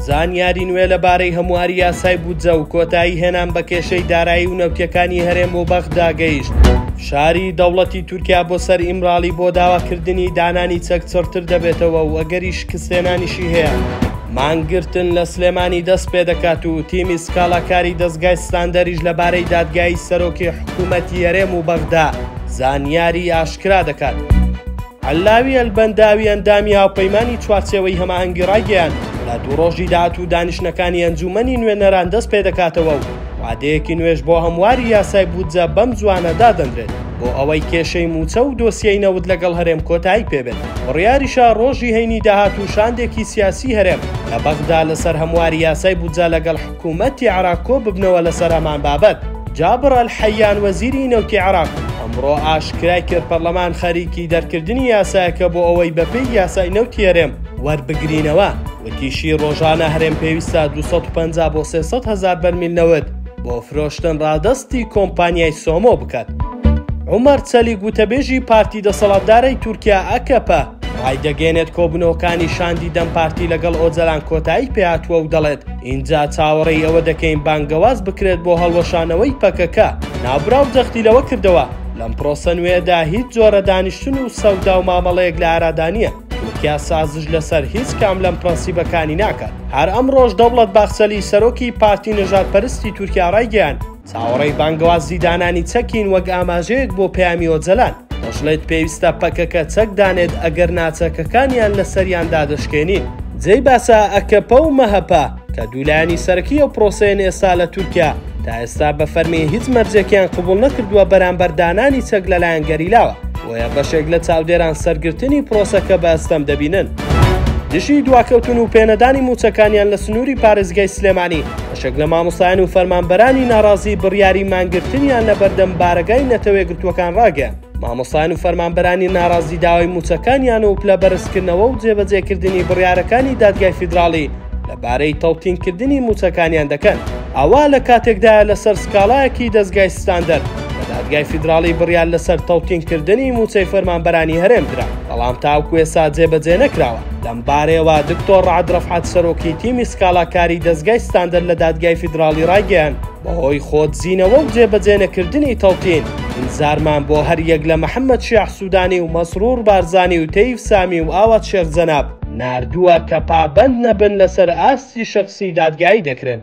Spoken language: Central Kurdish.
زانیاری نوێ لەبارەی هەمواری یاسای بودجە و کۆتایی هێنان بە کێشەی دارایی و نەوتەکانی هەرێم و بەغدا گەیشت. شاری دەوڵەتی تورکیا بۆ سەر ئیمراڵی بۆ داواکردنی دانانی چەک چڕتر دەبێتەوە و ئەگەری شکستێنانیشی هەیە. مانگرتن لە سلێمانی دەست پێ دەکات و تیمی سکاڵاکاری دەستگای ستاندەریش لەبارەی دادگایی سەرۆکی حکوومەتی هەرێم و بەغدا زانیاری ئاشکرا دەکات. عەللاوی ئەلبەنداوی ئەندامی هاوپەیمانی چوارچێوەی هەماهەنگی ڕایگەیاند، لە دوو ڕۆژی داهاتوو دانیشتنەکانی ئەنجوومەنی نوێنەران دەست پێدەکاتەوە و وادەیەکی نوێش بۆ هەمواری یاسای بودجە بەم زووانە دادەنرێت بۆ ئەوەی کێشەی مووچە و دۆسیەی نەوت لەگەڵ هەرێم کۆتایی پێبێت. بڕیاریشە ڕۆژی هەینی داهاتوو شاندێکی سیاسی هەرێم لە بەغدا لەسەر هەمواری یاسای بودجە لەگەڵ حکومەتی عێراق کۆ ببنەوە لەسەر هەمان بابەت. جابر ئەلحەیان وەزیری نەوتی عێراق ئەمڕۆ ئاشکرای کرد پەرلەمان خەریکی دەرکردنی یاسایەکە بۆ ئەوەی بەپێی یاسای نەوتی هەرێم وەربگرینەوە، وتیشی رۆژانە هەرێم پێویستە دوو سەد و پەنجا بۆ سێ سەد هەزار بەرمیل نەوت بۆ فرۆشتن رادەستی کۆمپانیای سۆمۆ بکات. عومەر چەلیک وتەبێژی پارتی دەسەڵاتدارەی تورکیا، ئەکەپە، رایدەگەیەنێت کۆبوونەوەکانی شاندی دەم پارتی لەگەڵ ئۆجەلان کۆتایی پێهاتووە و دەڵێت، ئینجا چاوەڕێی ئەوە دەکەین بانگەواز بکرێت بۆ هەڵوەشانەوەی پەکەکە. ناوبراو جەختی لەوە کردەوە، لەم پرۆسە نوێیەدا هیچ جۆرە دانیشتن و سەودا و مامەڵەیەک لە ئارادا نییە، تورکیا سازش لەسەر هیچ کام لەم پرەنسیبەکانی ناکات. هەر ئەمڕۆش دەوڵەت باخچەلی سەرۆکی پارتی نەژادپەرستی تورکیا ڕایگەیاند، چاوەڕێی بانگەوازی دانانی چەکین وەک ئاماژەیەک بۆ پەیامی ئۆجەلان، دەشڵێت پێویستە پەکەکە چەک دانێت ئەگەر نا چەکەکانیان لەسەریان دادەشکێنین. جێی باسە ئەکەپە و مەهەپە کە دوو لایەنی سەرەکی ئەو پرۆسەیەن ئێستا لە تورکیا تا ئێستا بە فەرمی هیچ مەرجێکیان قبوڵ نەکردووە بەرامبەر دانانی چەک لەلایەن گەریلاوە، بۆیە بەشێک لە چاودێران سەرگرتنی پرۆسەکە بە ئەستەم دەبینن. دژی دواکەوتن و پێنەدانی مووچەکانیان لە سنووری پارێزگای سلێمانی، بەشێک لە مامۆستایان و فەرمانبەرانی ناڕازی بڕیاری مانگرتنیان لە بەردەم بارەگای نەتەوەیەکگرتووەکان ڕاگەیاند، مامۆستایان و فەرمانبەرانی ناڕازی داوای مووچەکانیان و پلە بەرزکردنەوە و جێبەجێکردنی بڕیارەکانی دادگای فیدراڵی لەبارەی تەوتینکردنی مووچەکانیان دەکەن. ئەوە لە کاتێکدایە لەسەر سکاڵایەکی دەزگای ستاندەر لە دادگای فیدراڵی بڕیار لەسەر تەوتینکردنی مووچەی فەرمانبەرانی هەرێم درا، بەڵام تاوەکو ئێستا جێبەجێ نەکراوە. لەمبارەیەوە دکتۆر رەعد رەفعەت سەرۆکی تیمی سکاڵاکاری دەزگای ستاندەر لە دادگای فیدراڵی رایگەیاند، بەهۆی خۆدزینەوە و جێبەجێنەکردنی تەوتین، ئینزارمان بۆ هەریەک لە محەمەد شیاع سودانی و مەسرور بارزانی و تەیف سامی و ئاوات شێخ جەناب، ناردووە کە پابەند نەبن لەسەر ئاستی شەخسی دادگایی دەکرێن.